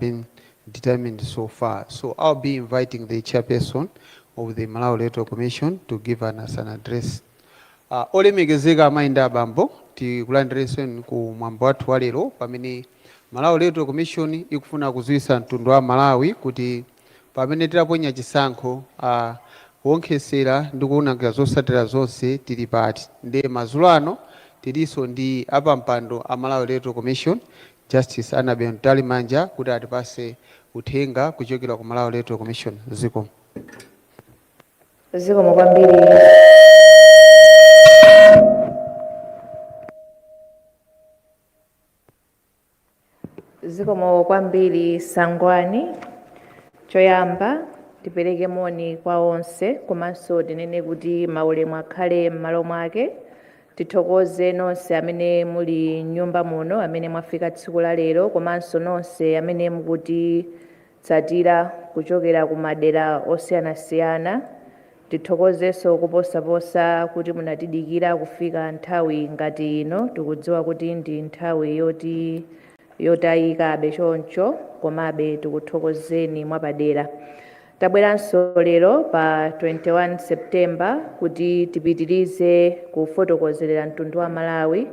been determined so far. So I'll be inviting the chairperson of the Malawi Electoral Commission to give us an address. Uh, olemekezeka amayi ndi abambo tikulandirenso ku mwambo wathu walero pamene Malawi Electoral Commission ikufuna kudziwitsa mtundu wa Malawi kuti pamene tidaponya chisankho uh, kuwonkhetsera ndi kuwunikira zotsatira zonse tili pati ndi madzulo ano tilinso ndi apampando a Malawi Electoral Commission Justice Annabel Mtalimanja kuti atipatse uthenga kuchokera ku Malawi Electoral Commission. Zikomo. Zikomo kwambiri Sangwani. Choyamba tipereke moni kwa onse komanso tinene kuti maulemu akhale m'malo mwake. Tithokoze nonse amene muli m'nyumba muno amene mwafika tsiku la lero komanso nonse amene mukutitsatira kuchokera ku madera osiyanasiyana. Tithokozenso koposaposa kuti munatidikira kufika nthawi ngati ino. Tikudziwa kuti ndi nthawi yotayikabe choncho komabe tikuthokozeni mwapadera. Tabweranso lero pa 21 September kuti tipitirize kufotokozerera mtundu wa Malawi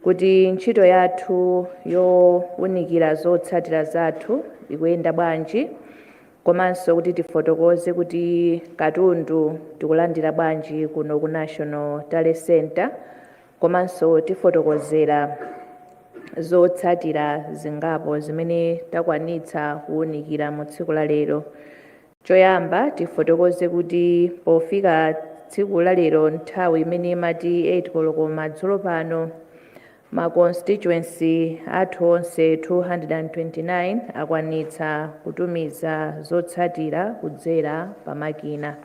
kuti ntchito yathu yowunikira zotsatira zathu ikuyenda bwanji komanso kuti tifotokoze kuti katundu tikulandira bwanji kuno ku National Tally Centre komanso tifotokozera zotsatira zingapo zimene takwanitsa kuwunikira mu tsiku la lero choyamba tifotokoze kuti pofika tsiku la lero nthawi imene imati 8 koloko madzulo pano ma constituency athu onse 229 akwanitsa kutumiza zotsatira kudzera pa makina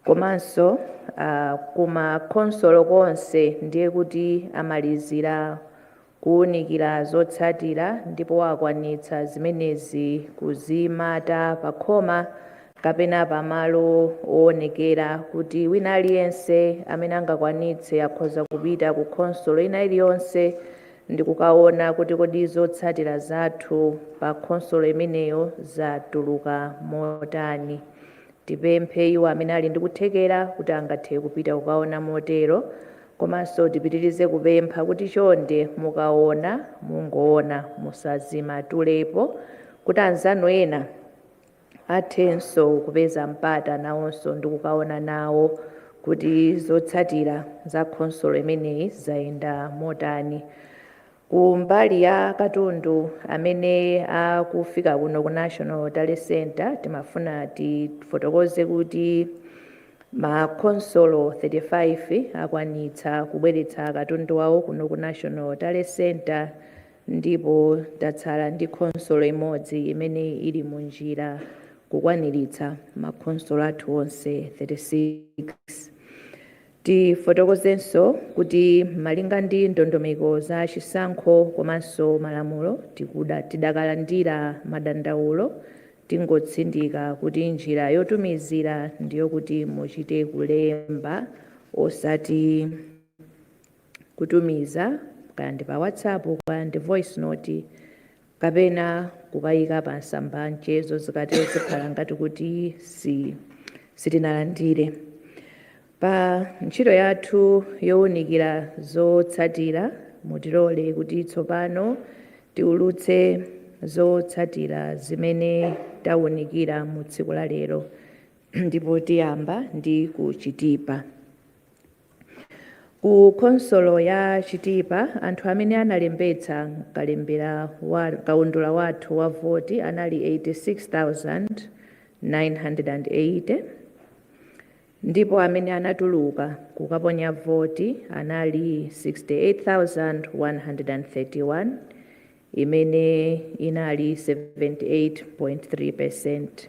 komanso ku ma khonsolo konse ndiye kuti amalizira kuwunikira zotsatira ndipo akwanitsa zimenezi kuzimata pakhoma kapena pamalo owonekera kuti wina aliyense amene angakwanitse akhoza kupita ku khonsolo ina iliyonse ndi kukaona kuti kodi zotsatira zathu pa khonsolo imeneyo zatuluka motani. Tipemphe iwo amene ali ndi kuthekera kuti angathe kupita kukaona motero, komanso tipitirize kupempha kuti chonde mukaona mungoona musazimatulepo kuti anzanu ena athenso kupeza mpata nawonso ndi kukaona nawo kuti zotsatira za khonsolo imeneyi zayenda motani. Ku mbali ya katundu amene akufika kuno ku National Tally Centre, timafuna tifotokoze kuti ma khonsolo 35 akwanitsa kubweretsa katundu wawo kuno ku National Tally Centre ndipo tatsala ndi khonsolo imodzi imene ili mu njira kukwaniritsa makhonsolo athu onse 36. Tifotokozenso kuti malinga ndi ndondomeko za chisankho komanso malamulo, ti, tidakalandira madandaulo, tingotsindika kuti njira yotumizira ndiyokuti muchite kulemba osati kutumiza kaya ndi pa WhatsApp kaya ndi voice note kapena kukayika pa masamba a mchezo zikatero zikhala ngati kuti sitinalandire pa ntchito yathu yowunikira zotsatira mutilole kuti tsopano tiulutse zotsatira zimene tawunikira mu tsiku la lero ndipo tiyamba ndi ku Chitipa Ku khonsolo ya Chitipa, anthu amene analembetsa m'kaundula wathu wa voti anali 86,980 ndipo amene anatuluka kukaponya voti anali 68,131, imene inali 78.3 peresenti.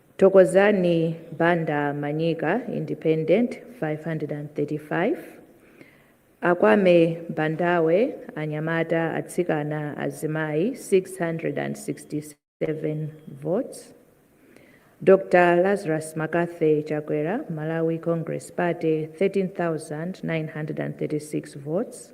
Thokozani Banda Manyika Independent 535 Akwame Bandawe Anyamata Atsikana Azimayi 667 votes Dr Lazarus Makathy Chakwera Malawi Congress Party 13936 votes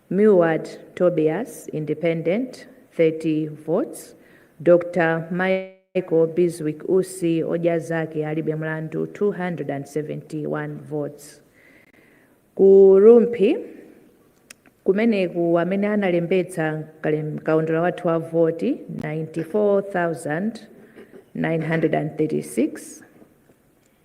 Milward Tobias, Independent, 30 votes, Dr Michael Bizwick Usi, Odya Zake Alibe Mlandu, 271 votes. Ku Rumphi kumeneko amene analembetsa mkaundula wathu wa voti 94,936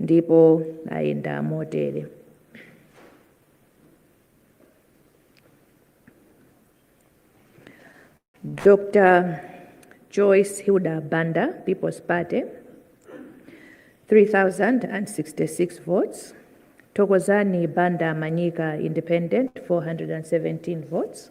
ndipo ayenda motere Dr. Joyce Hilda Banda, People's Party, 3,066 votes. Tokozani Banda Manyika, Independent, 417 votes.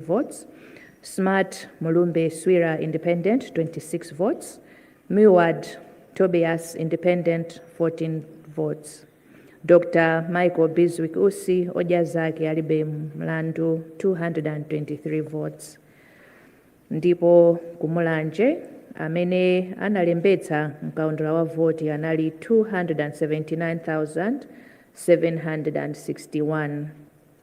votes, Smart Mulumbe Swira Independent 26 votes, Milward Tobias Independent 14 votes, Dr. Michael Bizwick Usi Odya Zake Alibe Mlandu 223 votes. Ndipo ku Mulanje amene analembetsa mkaundula wa voti anali 279,761.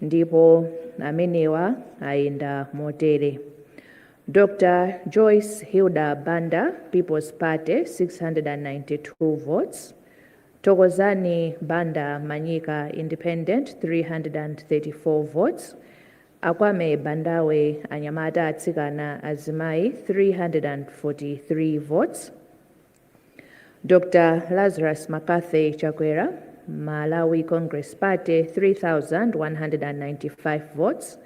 ndipo amenewa ayenda motere dr joyce hilda banda people's party 692 votes tokozani banda manyika independent 334 votes akwame bandawe anyamata atsikana azimayi 343 votes Dr Lazarus McCarthy Chakwera Malawi Congress Party 3195 votes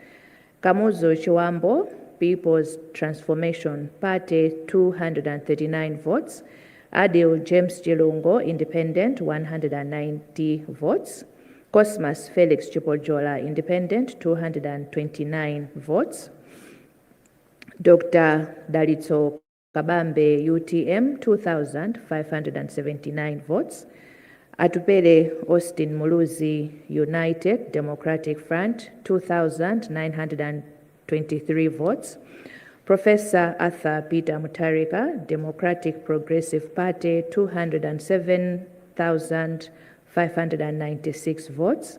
Kamuzu Chiwambo People's Transformation Party 239 votes Adil James Chilungo Independent 190 votes Cosmas Felix Chipojola Independent 229 votes Dr Dalitso Kabambe utm 2579 votes Atupele Austin Muluzi United Democratic Front 2923 votes Prof Arthur Peter Mutharika Democratic Progressive Party 207596 votes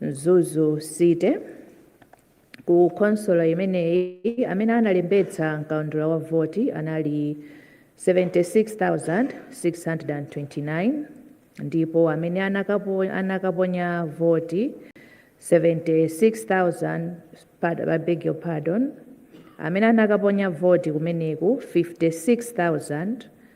mzuzu city ku khonsolo imeneyi amene analembetsa mkaundula wa voti anali 76629 ndipo amene anakaponya voti 76000 I beg your pardon amene anakaponya voti kumeneko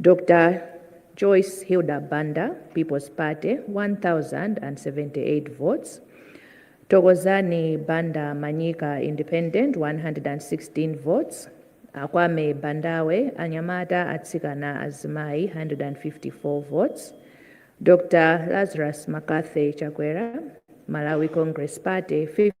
Dr Joyce Hilda Banda, People's Party, 1,078 votes, Thokozani Banda Manyika, Independent, 116 votes, Akwame Bandawe, Anyamata, Atsikana, Azimayi, 154 votes, Dr Lazarus Makathe Chakwera, Malawi Congress Party, 50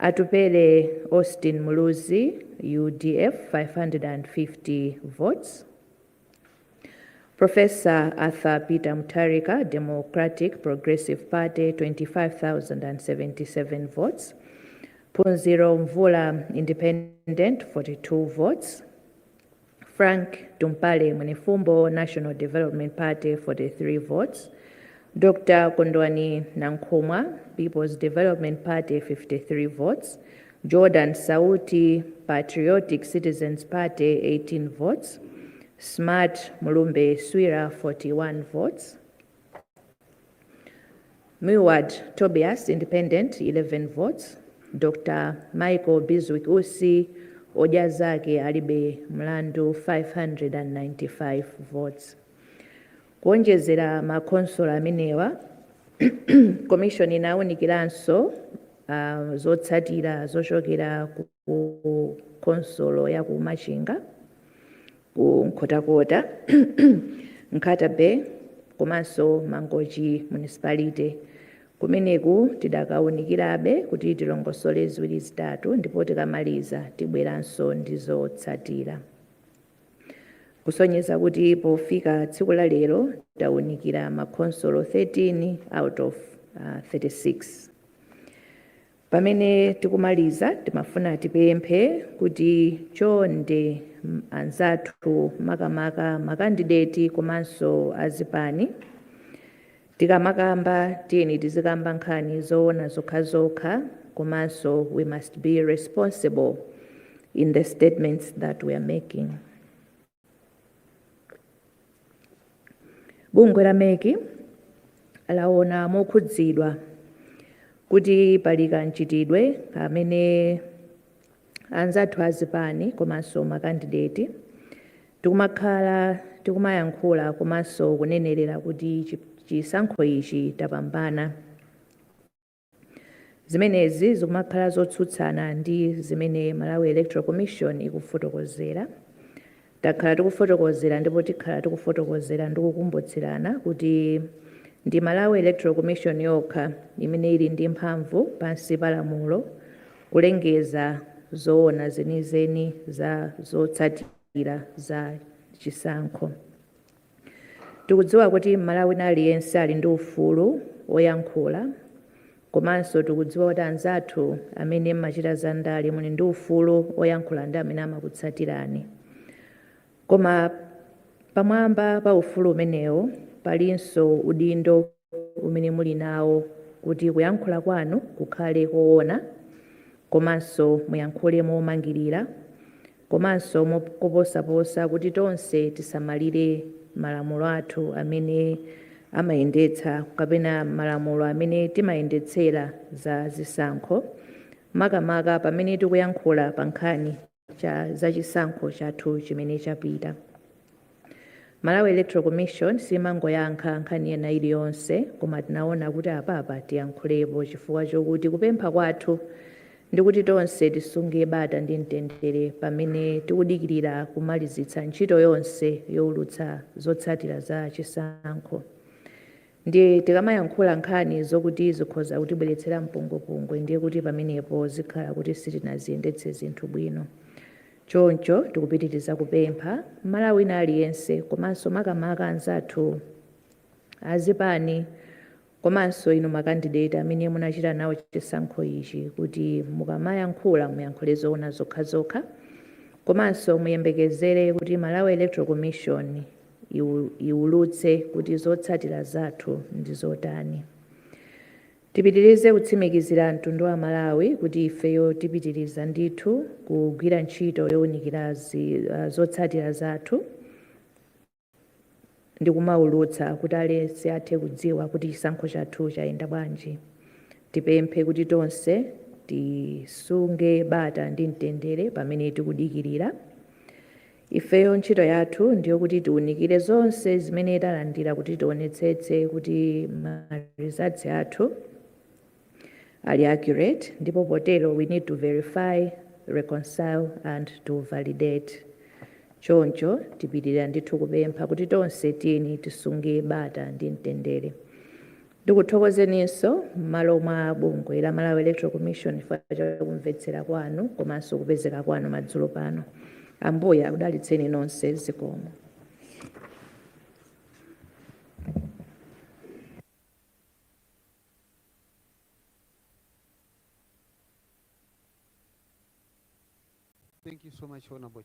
Atupele Austin Muluzi udf 550 votes Proffessor Arthur Peter Mutharika Democratic Progressive Party 25,077 votes Phunziro Mvula Independent 42 votes Frank Tumpale Mwenefumbo National Development Party 43 votes Dr Kondwani Nankhumwa Peoples Development Party 53 votes Jordan Sauti Patriotic Citizens Party 18 votes Smart Mulumbe Swira 41 votes Milward Tobias, Independent, 11 votes, Dr Michael Bizwick Usi, Odya Zake Alibe Mlandu 595 votes. Kuonjezera makhonsolo amenewa, komishoni inaunikiranso ah, zotsatira zochokera ku ku khonsolo ya ku Machinga ku Nkhotakota Nkhata Bay komanso Mangochi Municipality kumeneku tidakawunikirabe kuti tilongosole ziwiri zitatu ndipo tikamaliza tibweranso ndi zotsatira kusonyeza kuti pofika tsiku la lero tawunikira makhonsolo 13 out of uh, 36 Pamene tikumaliza timafuna tipemphe kuti chonde anzathu makamaka makandideti komanso azipani tikamakamba tiyeni tizikamba nkhani zoona zokhazokha komanso we must be responsible in the statements that we are making. bungwe la MEC laona mokhudzidwa kuti pali kamchitidwe amene anzathu azipani komanso makandideti tikumakhala tikumayankhula komanso kunenerera kuti chisankho ichi tapambana Zimenezi zikumakhala zotsutsana ndi zimene Malawi Electoral Commission ikufotokozera. Takhala tikufotokozera ndipo tikhala tikufotokozera ndi kukumbutsirana kuti ndi Malawi Electoral Commission yokha imene ili ndi mphamvu pansi pa lamulo kulengeza zoona zenizeni za zotsatira za chisankho. Tikudziwa kuti Mmalawi wina aliyense ali ndi ufulu woyankhula komanso tikudziwa kuti anzathu amene m'machita za ndale muli ndi ufulu woyankhula ndi amene amakutsatirani. Koma pamwamba pa ufulu umenewo palinso udindo. umene muli nawo kuti kuyankhula kwanu kukhale koona komanso muyankhule momangirira komanso koposaposa kuti tonse tisamalire malamulo athu amene amayendetsa kapena malamulo amene timayendetsera za zisankho makamaka pamene tikuyankhula pa nkhani cha za chisankho chathu chimene chapita malawi electoral commission simangoyankha nkhani ina iliyonse koma tinaona kuti apapa tiyankhulepo chifukwa chokuti kupempha kwathu ndikuti tonse tisunge bata ndi mtendere pamene tikudikirira kumalizitsa ntchito yonse youlutsa zotsatira za chisankho Ndiye tikamayankhula nkhani zokuti zikhoza kutibweretsera mpungwepungwe ndiye kuti pamenepo zikhala kuti sitinaziyendetse zinthu bwino. Choncho tikupitiriza kupempha Mmalawi wina aliyense komanso makamaka anzathu azipani komanso inu makandideti amene munachita nawo chisankho ichi kuti mukamayankhula muyankhule zoona zokhazokha komanso muyembekezere kuti Malawi Electoral Commission iwulutse kuti zotsatira zathu ndi zotani. Tipitirize kutsimikizira mtundu wa Malawi kuti ifeyo tipitiriza ndithu kugwira ntchito yowunikira zotsatira zathu ndi kumawulutsa kuti aliyense athe kudziwa kuti chisankho chathu chayenda bwanji. Tipemphe kuti tonse tisunge bata ndi mtendere pamene tikudikirira. Ifeyo ntchito yathu ndiyo kuti tiunikire zonse zimene talandira kuti tionetsetse kuti ma results athu ali accurate ndipo potero we need to verify, reconcile and to validate. Choncho tipitirira ndithu kupempha kuti tonse tiyeni tisunge bata ndi mtendere. Ndikuthokozeninso m'malo mwa bungwe la Malawi Electoral Commission chifukwa cha kumvetsera kwanu komanso kupezeka kwanu madzulo pano. Ambuye akudalitseni nonse. Zikomo. Thank you so much, Honorable.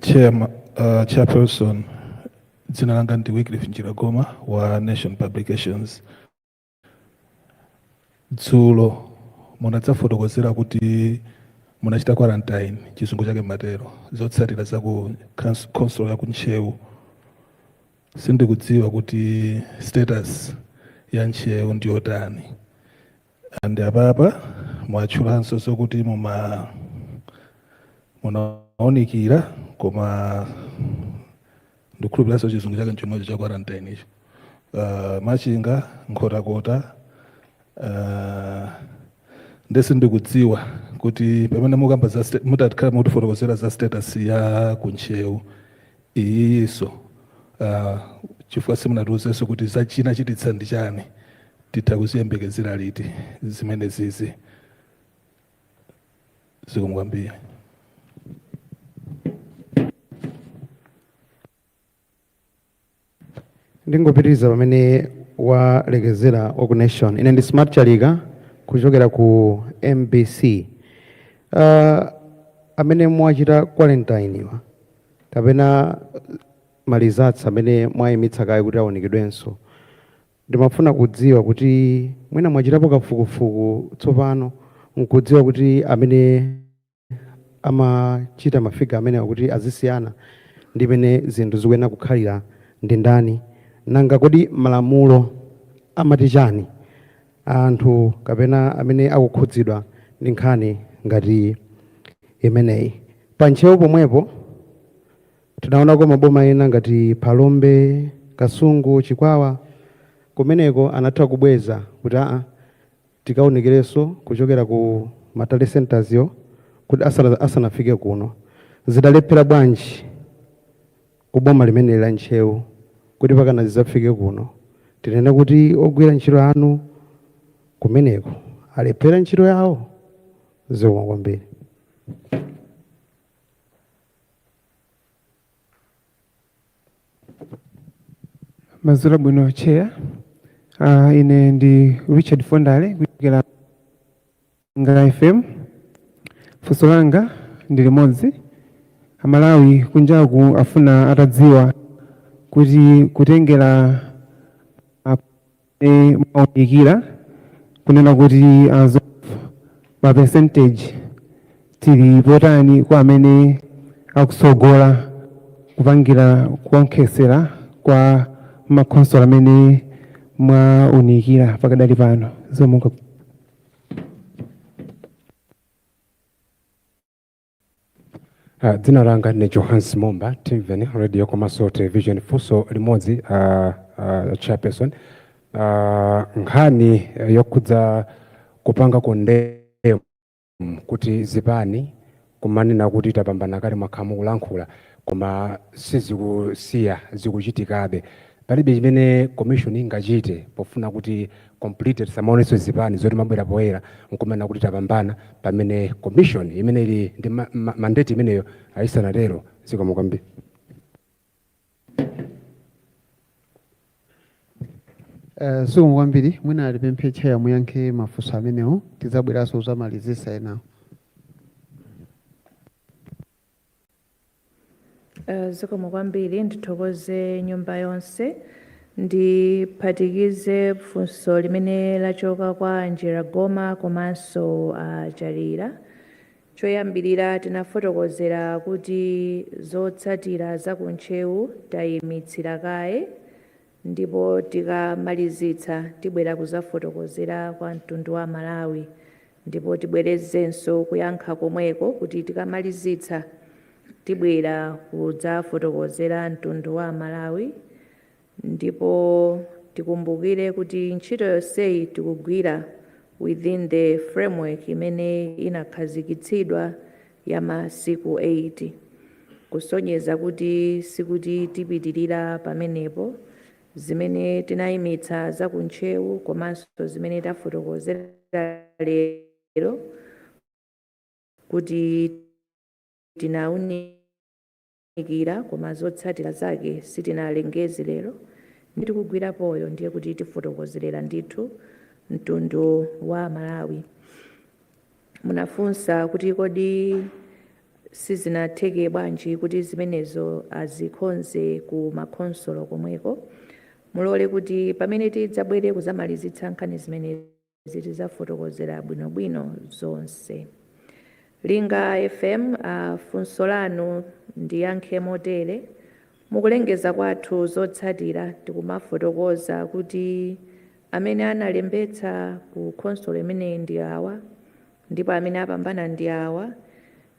Chairman, uh, Chairperson, dzina langa ndi Wycliffe Njiragoma wa Nation Publications. Dzulo munadzafotokozera kuti munachita quarantine chizungu chake matero zotsatira za ku khons- khonsolo ya ku Ntcheu. Sindikudziwa kuti status ya Ntcheu ndiyotani. and apapa mwatchulanso zokuti muma munaunikira koma ndikhulupiranso chizungu chake nchomwecho cha quarantine icho uh, machinga nkhotakota uh, nde sindikudziwa kuti pamene mukamba za sta- mutakhala mutifotokozera za status ya ku Ntcheu iyiyiso uh, chifukwa simunatiuzenso kuti zachina chachititsa ndi chani titha kuziyembekezera liti zimenezizi zikomo kwambiri ndingopitiriza pamene walekezera wa ku nation ine ndi smart chalika kuchokera ku mbc uh, amene mwachita quarantine wa kapena ma results amene mwaimitsa kaye kuti awonekedwenso. Ndimafuna kudziwa kuti mwina mwachitapo kafukufuku tsopano nkudziwa kuti amene amachita ma figure amenewa kuti azisiyana ndi mene zinthu zikuyenera kukhalira ndi ndani? Nanga kodi malamulo amati chani kwa anthu kapena amene akukhudzidwa ndi nkhani ngati imeneyi. Pa Ntcheu pomwepo, tinaonako maboma ena ngati Phalombe, Kasungu, Chikwawa, kumeneko anatha kubweza kuti aa tikaunikilenso kuchokera ku ma tally centres yo kuti asanafike kuno. Zidalephera bwanji? ku boma limeneli la Ntcheu kuti mpakana zidzafike kuno tinene kuti ogwira ntchito anu kumeneko alephera ntchito yawo? Zikomo kwambiri. Madzulo abwino Chair. Ah, ine ndi Richard Fondale kuchokera Ngala FM, funso langa ndi limodzi, amalawi kunjaku afuna atadziwa kuti kutengela mmene mwaunikila kunena kuti as of ma percentage tili potani kwa amene akutsogola kupangila kuonkhesela kwa makhonsolo amene mwaunikila pakadali pano zikomo. Uh, dzina langa ni Johannes Momba Timveni radio komanso television funso limodzi uh, uh, chairperson uh, nkhani yokhudza kupanga condemn kuti zipani kumanena kuti tapambana kale mwakhala mukulankhula koma sizikusiya zikuchitikabe palibe chimene commission ingachite pofuna kuti completely tisamaonenso zipani zikumabwera poyera nkumanena kuti tapambana pamene commission imene ili ndi ma, ma, mandate imeneyo isanatero zikomo kwambiri Eh, zikomo kwambiri mwina alipembe tcheya muyankhe mafunso amenewo tidzabweranso kuzamalizisa enawo Eh, zikomo kwambiri ndithokoze nyumba yonse ndiphatikize funso limene lachoka kwa njira goma komanso uh, Jalira Choyambirira tinafotokozera kuti zotsatira za ku Ntcheu tayimitsira kaye ndipo tikamalizitsa tibwera kuzafotokozera kwa mtundu wa Amalawi ndipo tibwerezenso kuyankha komweko kuti tikamalizitsa tibwera kudzafotokozera mtundu wa Amalawi Ndipo tikumbukire kuti ntchito yonseyi tikugwira within the framework imene inakhazikitsidwa ya masiku 8 kusonyeza kuti sikuti tipitirira pamenepo. Zimene tinayimitsa za ku Ntcheu komanso zimene tafotokozera lero kuti tinaunika. nikira, koma zotsatira zake sitinalengeze lero ndi tikugwirapozo ndiye kuti tifotokozerera ndithu mtundu wa Malawi. Munafunsa kuti kodi sizinatheke bwanji kuti zimenezo azikonze ku makhonsolo komweko. Mulole kuti pamene tidzabwere kuzamalizitsa nkhani zimenezo. zi tidzafotokozera bwinobwino zonse. Linga FM funso lanu ndiyankhe motere, Mukulengeza kwathu zotsatira tikumafotokoza kuti amene analembetsa ku khonsolo imeneyi ndi awa ndipo amene apambana ndi awa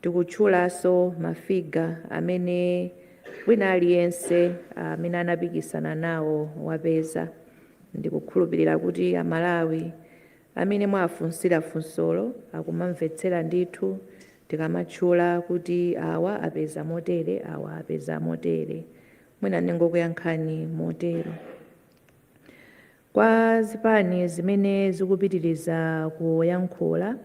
Tikutchulanso ma figure amene wina aliyense amene anapikisana nawo wapeza. Ndikukhulupilira kuti a Malawi amene mwafunsira funsolo akumamvetsera ndithu tikamatchula kuti awa apeza motere awa apeza motere. Mwina ndingokuyankhani motero. Kwa zipani zimene zikupitiliza kuyankhula,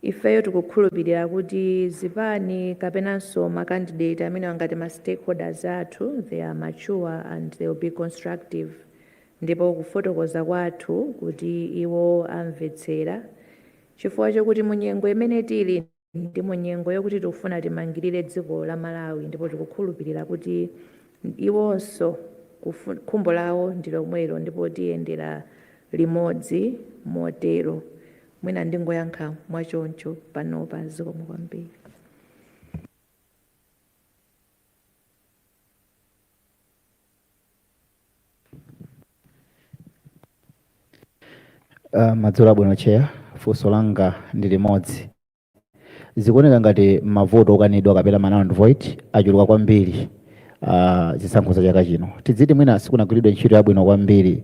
Ifeyo tikukhulupirira kuti zipani kapenanso ma candidate amenewa ngati ma stakeholders athu they are mature and they will be constructive ndipo kufotokoza kwathu kuti iwo amvetsera chifukwa chokuti mu nyengo imene tili ndi mu nyengo yokuti tikufuna timangirire dziko la Malawi ndipo tikukhulupirira kuti iwonso khumbo lawo ndi lomwelo ndipo tiyendera limodzi motero mwina ndingoyankha mwachoncho panopa zikomo kwambiri Uh, madzulo abwino cheya funso langa ndi limodzi zikuoneka ngati mavoti okanidwa kapena ma null and void achuluka kwambiri uh, zisankho za chaka chino tidziti mwina sikunagwiridwe ntchito yabwino kwambiri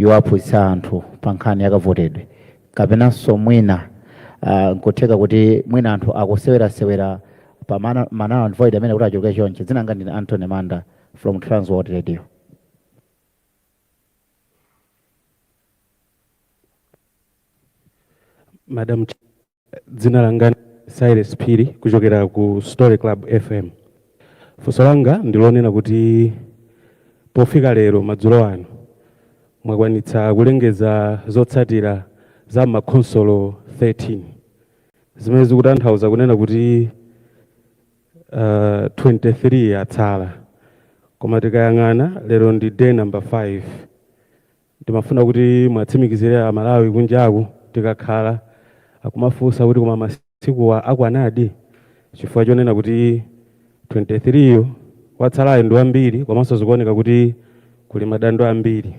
yowaphunzitsa anthu pa nkhani yakavotedwe kapenanso mwina uh, nkutheka kuti mwina anthu akusewerasewera pa mana- ma null and void amene kuti achuluke chonchi dzina langa ndine antony manda from transworld radio madam Ch- Dzina langa ndi Silas Phiri kuchokera ku Story Club FM. Funso langa ndi lonena kuti pofika lero madzulo ano mwakwanitsa kulengeza zotsatira za m'makhonsolo 13 zimene zikutanthauza kunena kuti uh, 23 atsala koma tikayang'ana lero ndi day number 5 Ndimafuna kuti muwatsimikizire a Malawi kunjaku tikakhala, akumafunsa kuti koma masikuwa akwanadi? Chifukwa chonena kuti 23 yo watsalayo ndi wambiri komanso zikuoneka kuti kuli madando ambiri.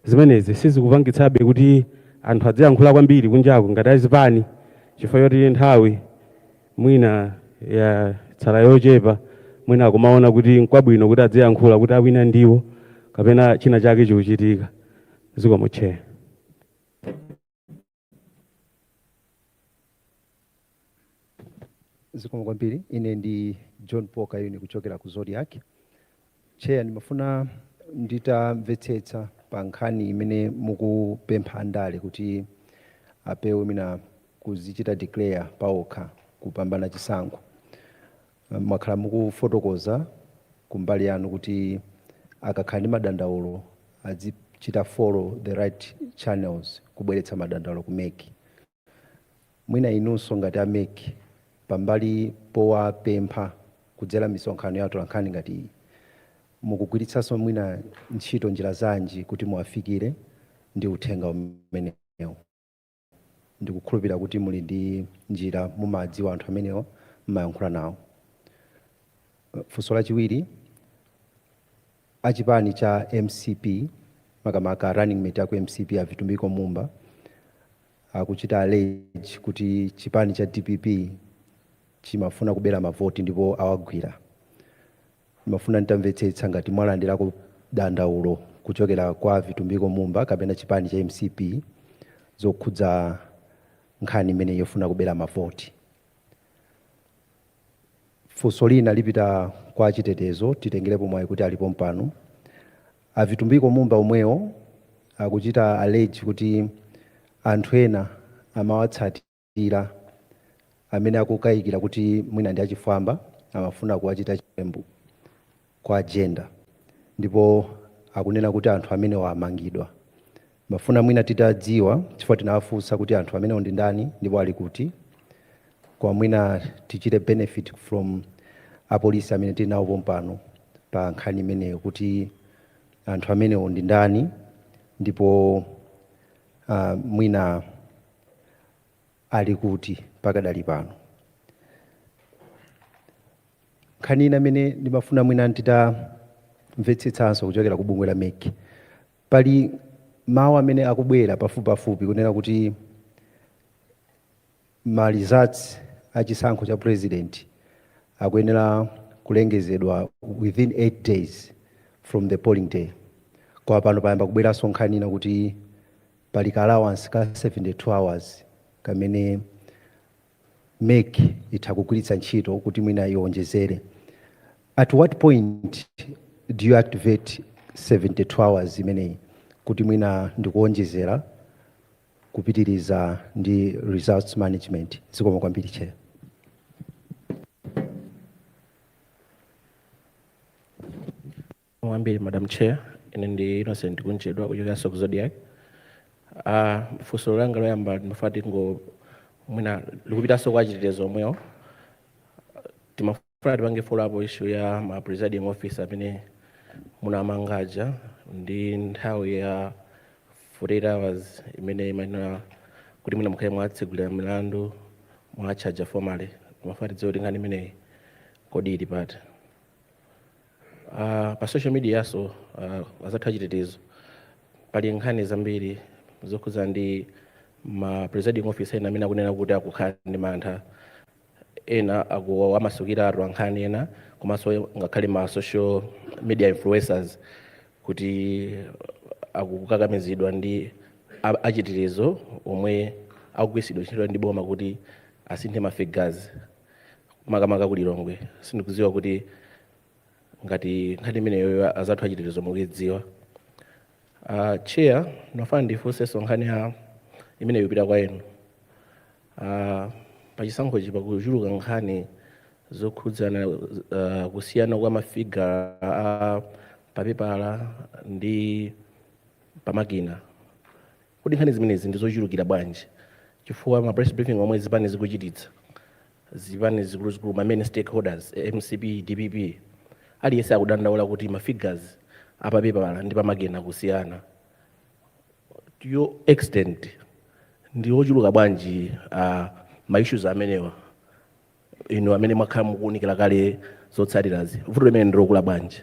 Zimenezi sizikupangitsabe kuti anthu adziyankhula kwambiri kunjaku ngati a zipani chifukwa choti nthawi. mwina yatsala yochepa, mwina akumaona kuti nkwabwino kuti adziyankhula kuti awina ndiwo kapena china chake chikuchitika. Zikomo Chair. Zikomo kwambiri. Ine ndi John Paul Kayuni kuchokera ku Zodiak. Chair ndimafuna nditamvetsetsa pa nkhani imene mukupempha andale kuti apewe mwina kuzichita declare paokha kupambana chisankho. Mwakhala mukufotokoza kumbali yanu kuti akakhala ndi madandaulo adzichita follow the right channels kubweretsa madandaulo ku mec. Mwina inunso ngati a mec pambali powapempha kudzera misonkhano ya atolankhani ngati iyi mukugwiritsanso mwina ntchito njira zanji kuti muwafikire ndi uthenga umenewo. Ndikukhulupira kuti muli ndi njira mumawadziwa anthu amenewa mumayankhula nawo. Funso lachiwiri a chipani cha mcp makamaka running mate aku mcp a Vitumbiko Mumba akuchita allege kuti chipani cha dpp chimafuna kubera mavoti ndipo awagwira. Ndimafuna nditamvetsetsa ngati mwalandirako dandaulo kuchokera kwa Vitumbiko Mumba kapena chipani cha mcp zokhudza nkhani imeneyi yofuna kubera mavoti. Funso lina lipita kwa achitetezo titengerepo mwayi kuti ali pompano. A Vitumbiko Mumba omwewo akuchita allege kuti anthu ena amawatsatira amene akukayikira kuti mwina ndi achifwamba amafuna kuwachita chiwembu. kuwagenda ndipo akunena kuti anthu amenewa amangidwa. Timafuna mwina titadziwa chifukwa tinawafunsa kuti anthu amenewo ndi ndani ndipo ali kuti koma mwina tichite benefit from apolisi amene tili nawo pompano pa nkhani imeneyo kuti anthu amenewo ndi ndani ndipo ah, mwina ali kuti pakadali pano? Nkhani ina imene ndimafuna mwina nditamvetsetsanso kuchokera ku bungwe la mec pali mawu amene akubwera pafupipafupi kunena kuti ma results a chisankho cha president akuyenera kulengezedwa within 8 days from the polling day koma pano payamba kubweranso nkhani ina kuti Pali ka allowance ka 72 hours kamene mec itha kugwiritsa ntchito kuti mwina iwonjezere. At what point do you activate 72 hours imeneyi kuti mwina n'kuwonjezera kupitiriza ndi results management? Zikomo kwambiri chair. Zikomo kwambiri madam chair. Ine ndi Innocent Kunchedwa kuchokeranso ku Zodiak. Ah, funso langa loyamba ndimafuna tingo mwina likupitanso kwa achitetezo omwewo. Timafuna tipange follow up issue ya ma presiding officer amene munawamanga aja ndi nthawi ya 48 hours imene imayenera kuti mwina mukhale mwatsegulira milandu mwatchaja formally. Timafuna tidziwe kuti nkhani imeneyi kodi ili pati. Uh, pa social media nso uh, azathu achitetezo pali nkhani zambiri zokhuza ndi ma presiding officer ena amene akunena kuti akukhala ndi mantha ena akuwamasukira atolankhani ena komanso ngakhale ma social media influencers kuti akukakamizidwa ndi a- achitetezo omwe akugwiritsidwa ntchito ndi boma kuti asinthe ma figures makamaka ku lilongwe sindikudziwa kuti ngati nkhani imeneyoyo azathu achitetezo mukuidziwa uh, chair ndimafuna ndifunsenso nkhani imeneyi ipita kwa inu uh, pachisankhochi pakuchuluka nkhani zokhudzana uh, kusiyana kwa mafiga a papepala ndi pamakina Kodi nkhani zimenezi ndi zochulukira bwanji? Chifukwa ma press briefing omwe zipani zikuchititsa, zipani zikuluzikulu, ma main stakeholders, mcp, dpp, aliyense akudandaula kuti ma figures a pa pepala ndi pa makina akusiyana to what extent ndi ochuluka bwanji ma issues amenewa inu amene mwakhala mukuunikira kale zotsatirazi? Vuto limeneli ndi lokula bwanji?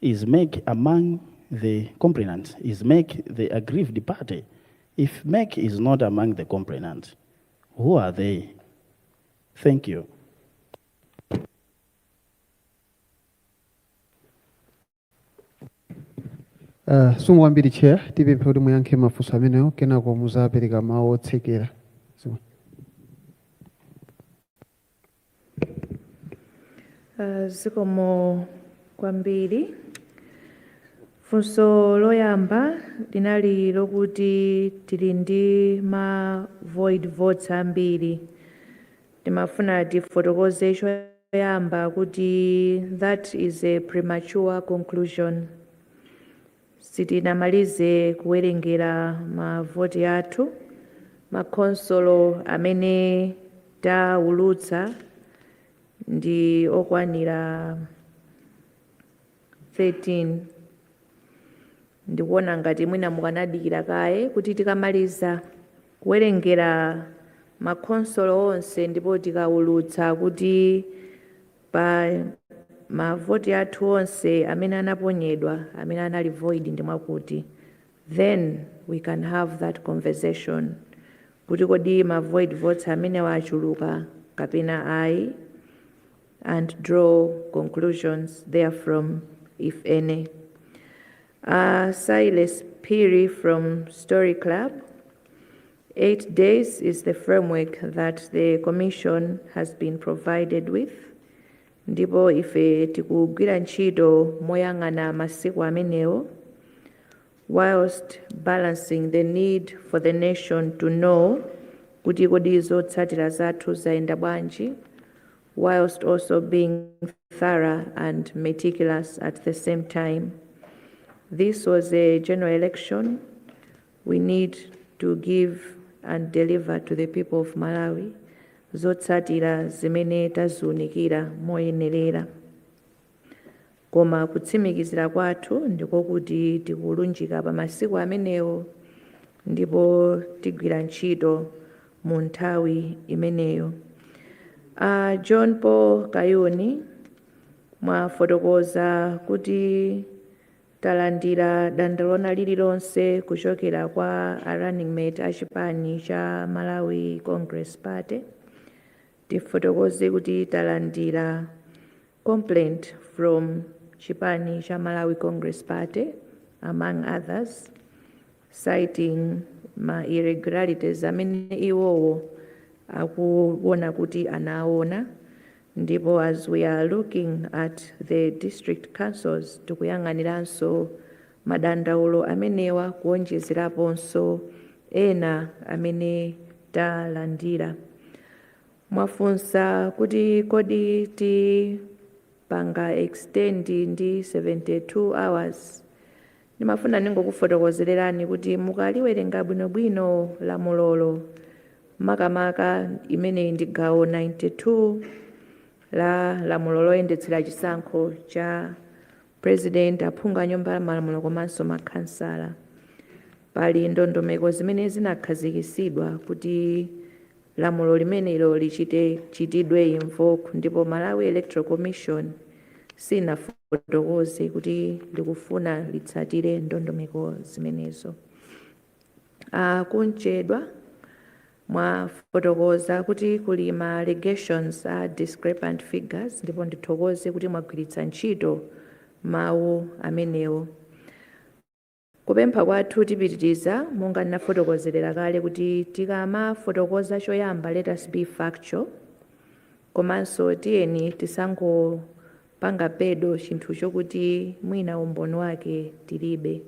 is mec among the complainants is mec the aggrieved party if mec is not among the complainants who are they thank you Uh, zikomo kwambiri chair tipemphe kuti muyankhe mafunso amenewo kenako muzapereka mawu otsekera Uh, zikomo kwambiri funso loyamba linali lokuti tili ndi ma void votes ambiri timafuna tifotokoze choyamba kuti that is a premature conclusion Sitinamalize kuwerengera ma voti athu. Ma khonsolo amene tawulutsa ndi okwanira 13. Ndikuona ngati mwina mukanadikira kaye kuti tikamaliza kuwerengera ma khonsolo onse ndipo tikawulutsa kuti Pa ma voti athu onse amene anaponyedwa amene anali void ndi mwakuti then we can have that conversation kuti kodi ma void votes amenewa achuluka kapena ayi and draw conclusions therefrom if any. Silas Phiri from Story Club. 8 days is the framework that the commission has been provided with ndipo ife tikugwira ntchito moyang'ana masiku amenewo whilst balancing the need for the nation to know kuti kodi zotsatira zathu zayenda bwanji whilst also being thorough and meticulous at the same time this was a general election We need to give and deliver to the people of Malawi zotsatira zimene taziunikira moyenerera. Koma kutsimikizira kwathu ndiko kuti tikulunjika pa masiku amenewo ndipo tigwira ntchito mu nthawi imeneyo. A John Paul Kayuni mwafotokoza kuti Talandira dandaulo lina lililonse kuchokera kwa a running mate a chipani cha Malawi Congress Party. Tifotokoze kuti talandira complaint from chipani cha Malawi Congress Party among others. citing ma irregularities amene iwowo akuwona kuti anawona ndipo as we are looking at the district councils tikuyang'aniranso madandaulo amenewa kuwonjezeraponso ena amene talandira. Mwafunsa kuti kodi tipanga extend ndi 72 hours Ndimafuna ndingokufotokozererani kuti mukaliwerenga bwinobwino lamulolo, makamaka imeneyi ndi gawo 92 la lamulo loyendetsera chisankho cha President, aphungu a nyumba ya malamulo komanso ma khansala. Pali ndondomeko zimene zinakhazikisidwa kuti. lamulo limenelo lichite chitidwe invoke ndipo Malawi Electoral Commission sinafotokoze kuti likufuna litsatire ndondomeko zimenezo. A Kunchedwa mwafotokoza kuti kuli ma allegations a discrepant figures ndipo ndithokoze kuti mwagwiritsa ntchito mawu amenewo. Kupempha kwathu tipitiriza monga ndinafotokozerera kale kuti tikamafotokoza choyamba let us be factual komanso tiyeni tisangopanga peddle chinthu chokuti mwina umboni wake tilibe.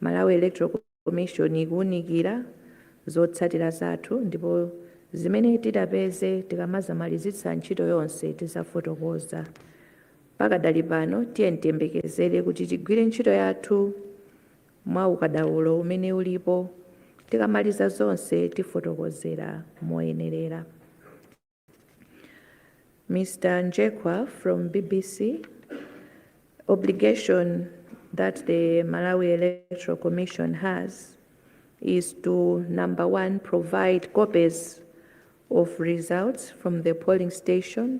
Malawi Electoral Commission ikuunikira zotsatira zathu ndipo zimene titapeze tikamazamalizitsa ntchito yonse tizafotokoza. Pakadali pano, tiyeni tiyembekezere kuti tigwire ntchito yathu mwa ukadaulo umene ulipo, tikamaliza zonse tifotokozera moyenerera. Mr. Njekwa from BBC obligation that the Malawi Electoral Commission has is to number one provide copies of results from the polling station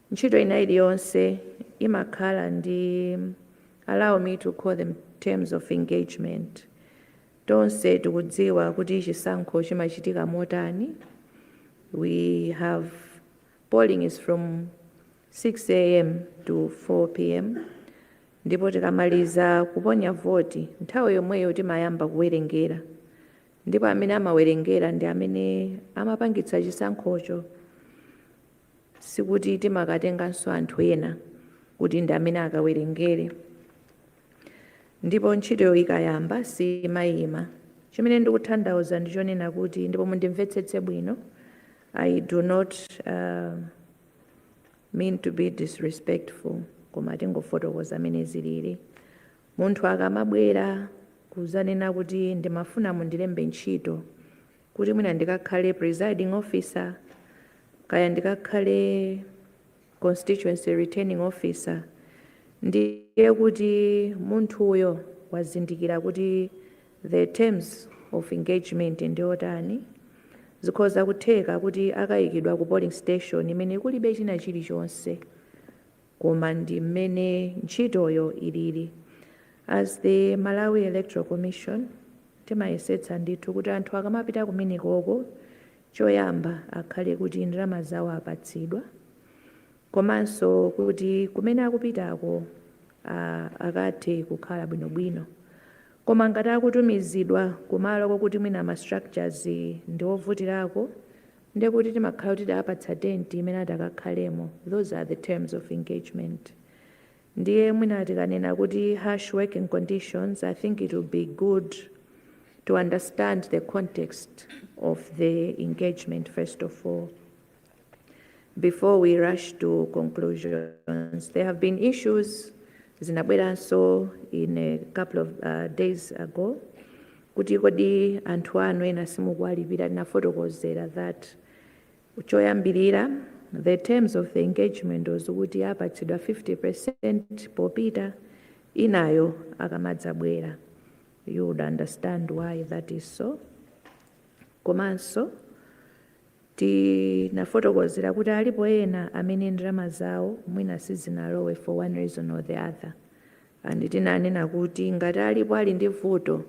Ntchito ina iliyonse imakhala ndi allow me to call them terms of engagement. Tonse tikudziwa kuti chisankho chimachitika motani, we have polling is from 6AM to 4PM ndipo tikamaliza kuponya voti nthawi yomweyo timayamba kuwerengera ndipo amene amawerengera ndi amene amapangitsa chisankhocho. Sikuti timakatenganso anthu ena kuti ndi amene akawerengere. Ndipo ntchito ikayamba siimaima. Chimene ndikuthandauza ndi chonena kuti, ndipo mundimvetsetse bwino, I do not uh, mean to be disrespectful, koma tingofotokoza mmene zilili. Munthu akamabwera kuzanena kuti ndimafuna mundilembe ntchito, kuti mwina ndikakhale presiding officer kaya ndikakhale constituency returning officer ndiye kuti munthuyo wazindikira kuti the terms of engagement ndiotani zikhoza kutheka kuti akayikidwa ku polling station imene kulibe china chilichonse koma ndi mmene ntchitoyo ilili as the Malawi Electoral Commission timayesetsa ndithu kuti anthu akamapita kumenekoko choyamba akhale kuti ndalama zawo apatsidwa komanso kuti kumene akupitako ah, akathe kukhala bwinobwino koma ngati akutumizidwa kumalo kokuti mwina ma structures ndi ovutirako nde kuti timakhala kuti taapatsa tent imene atakakhalemo those are the terms of engagement ndiye mwina tikanena kuti harsh working conditions i think it would be good to understand the context of the engagement first of all before we rush to conclusions. There have been issues, Zinabweranso, in a couple of uh, days ago. kuti kodi anthu anu ena simukuwalipira tinafotokozera that choyambirira the terms of the engagement was kuti apatsidwa 50% popita inayo akamadzabwera you would understand why that is so komanso tinafotokozera kuti alipo ena amene ndalama zawo mwina sizinalowe for one reason or the other and tinanena kuti ngati alipo ali ndi vuto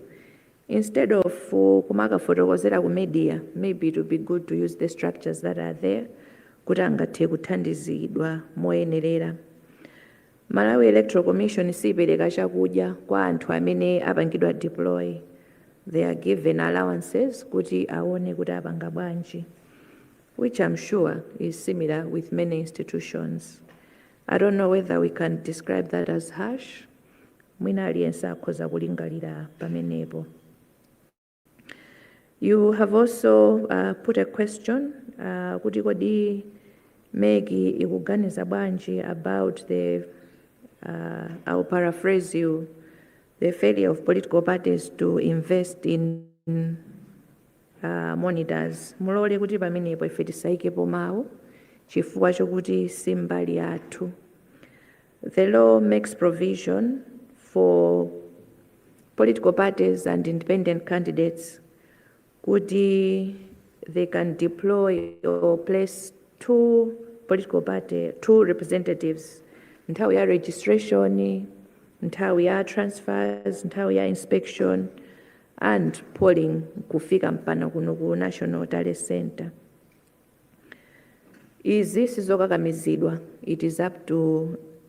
instead of kumakafotokozera ku media maybe it would be good to use the structures that are there kuti angathe kuthandizidwa moyenerera. Malawi Electoral Commission siipereka chakudya kwa anthu amene apangidwa deploy. They are given allowances kuti aone kuti apanga bwanji which I'm sure is similar with many institutions. I don't know whether we can describe that as harsh. Mwina aliyense akhoza kulingalira pamenepo. You have also uh, put a question uh, kuti kodi Maggie ikuganiza bwanji about the uh, I'll paraphrase you the failure of political parties to invest in A monitors mulole kuti pamenepo ife tisaikepo mawu chifukwa chokuti si mbali yathu. The law makes provision for political parties and independent candidates kuti they can deploy or place two representatives nthawi ya registration, nthawi ya transfers, nthawi ya inspection and polling kufika mpana kuno ku national tally centre izi sizokakamizidwa it is up to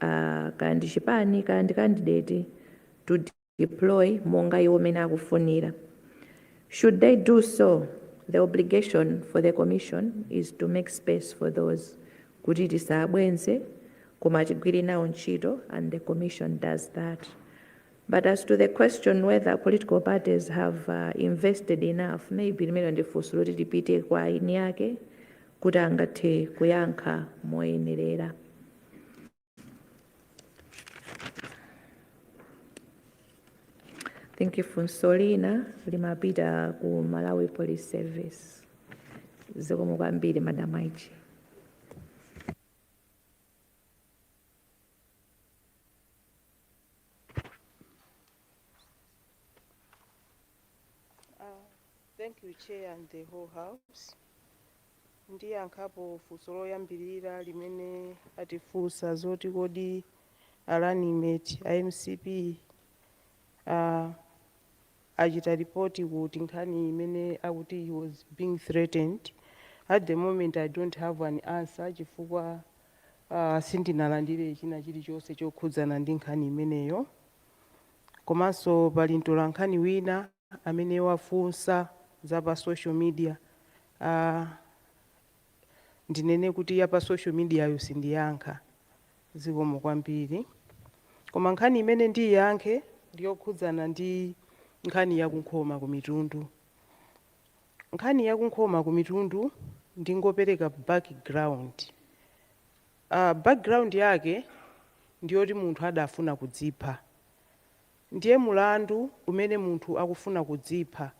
uh, kaya ndi chipani kaya ndi candidate to deploy monga iwo mene akufunira should they do so the obligation for the commission is to make space for those kuti tisabwenze koma tigwire nawo ntchito and the commission does that But as to the question whether political parties have invested enough, maybe limenelo ndi funso loti lipite kwa eni ake kuti angathe kuyankha moyenerera. I think funso lina limapita ku Malawi Police Service. Zikomo kwambiri Madam IG. Thank you, Chair and the whole house. Ndiyankhapo funso loyambirira limene atifunsa zoti kodi a running mate a MCP ah, achita report kuti nkhani imene akuti he was being threatened, at the moment I don't have an answer chifukwa uh, sindinalandire china chilichonse chokhudzana ndi nkhani imeneyo. Komanso pali mtolankhani wina amene wafunsa za pa social media uh, ndinene kuti ya pa social media yo sindiyankha Zikomo kwambiri. Koma nkhani imene ndiiyankhe ndi yokhudzana ndi nkhani ya ku Nkhoma ku Mitundu. Nkhani ya ku Nkhoma ku Mitundu ndingopereka background. Uh, background yake ndi yoti munthu adafuna kudzipha. Ndiye mulandu umene munthu akufuna kudzipha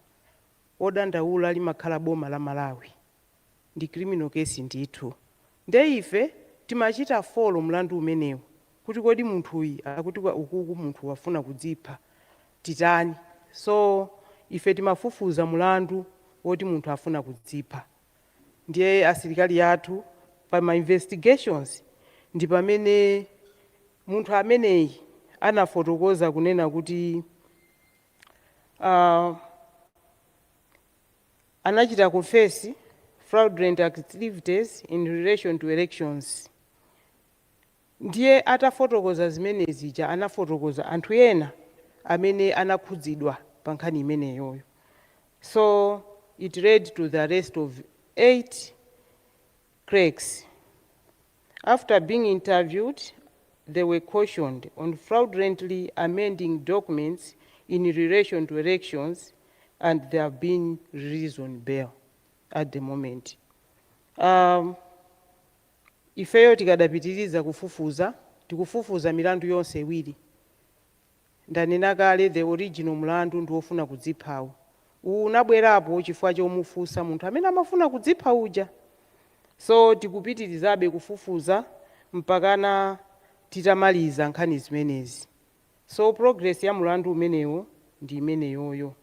odandaula limakhala boma la Malawi. ndi criminal case ndithu nde ife timachita follow mlandu umenewu kuti kodi munthuyi akuti ukuku munthu wafuna kudzipha titani so ife timafufuza mulandu woti munthu afuna kudzipha ndiye asilikali athu pa ma investigations ndi pamene munthu ameneyi anafotokoza kunena kuti uh, anachita confess fraudulent activities in relation to elections ndiye atafotokoza zimene zija anafotokoza anthu ena amene anakhudzidwa pa nkhani imeneyoyo so it led to the arrest of 8 clerks. After being interviewed, they were cautioned on fraudulently amending documents in relation to elections and they have been released on bail at the moment. Um, ifeyo tikadapitiriza kufufuza tikufufuza milandu yonse iwiri Ndanena kale the original mlandu ndi wofuna kudziphawo. Uwu unabwerapo chifukwa chomufunsa munthu amene amafuna kudzipha uja. So tikupitirizabe kufufuza mpakana titamaliza nkhani zimenezi. So progress ya mlandu umenewo ndi imeneyoyo.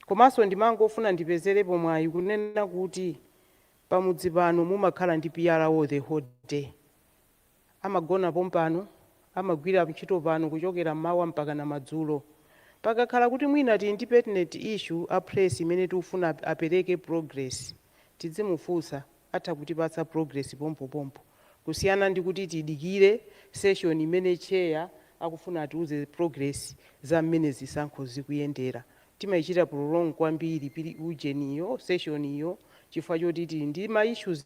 Komanso ndimangofuna ndipezerepo mwayi kunena kuti pamudzi pano mumakhala ndi PRO the whole day. Amagona pompano, amagwira ntchito pano kuchokera mmawa mpakana madzulo. Pakakhala kuti mwina tili ndi pertinent issue a press imene tikufuna apereke progress, tidzimufunsa, atha kutipatsa progress pompopompo kusiyana ndi kuti tidikire session imene chair akufuna atiuze progress za mmene zisankho zikuyendera. Timaichita prolong kwambiri pili ujeniyo, session yo chifukwa choti tili ndi ma issues.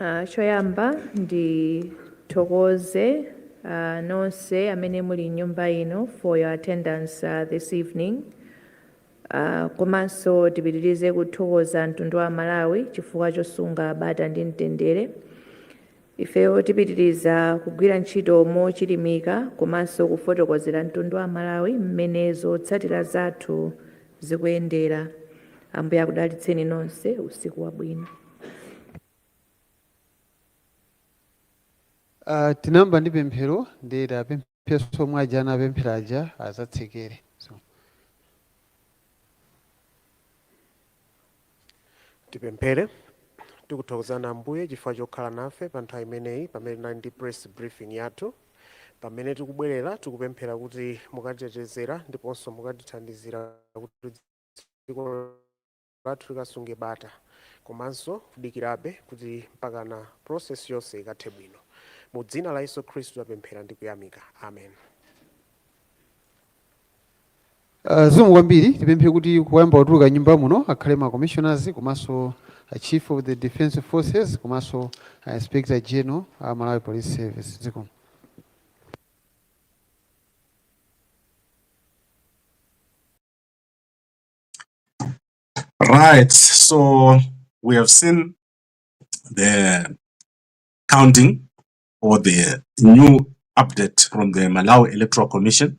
Ah, choyamba ndithokoze ah, nonse amene muli mnyumba ino for your attendance ah, this evening Ah, komanso tipitirize kuthokoza mtundu wa Malawi chifukwa chosunga bata ndi mtendere ifeyo tipitiriza kugwira ntchito mochilimika komanso kufotokozera mtundu wa Malawi mmene zotsatira zathu zikuyendera. Ambuye akudalitseni nonse. Usiku wabwino. Uh, tinayamba ndi pemphero nde tiwapempheso omwe aja anapemphera aja azatsekereso. Tipemphere. Tikuthokozani Ambuye chifukwa chokhala nafe pa nthawi imeneyi pamene tinali ndi press briefing yathu. Pamene tikubwerera tikupemphera kuti mukatitetezere ndiponso mukatithandizire kuti dziko lathu likasunge bata komanso kudikirabe kuti mpakana process yonse ikathe bwino. Mu dzina la Yesu Khristu tapemphera ndi kuyamika. Amen. Uh, zikomo kwambiri tipemphe kuti kuyamba kutuluka nyumba muno akhale ma commissioners komanso a chief of the defense forces komanso a inspector general a malawi police service zikomo Right, so we have seen the counting or the new update from the Malawi Electoral Commission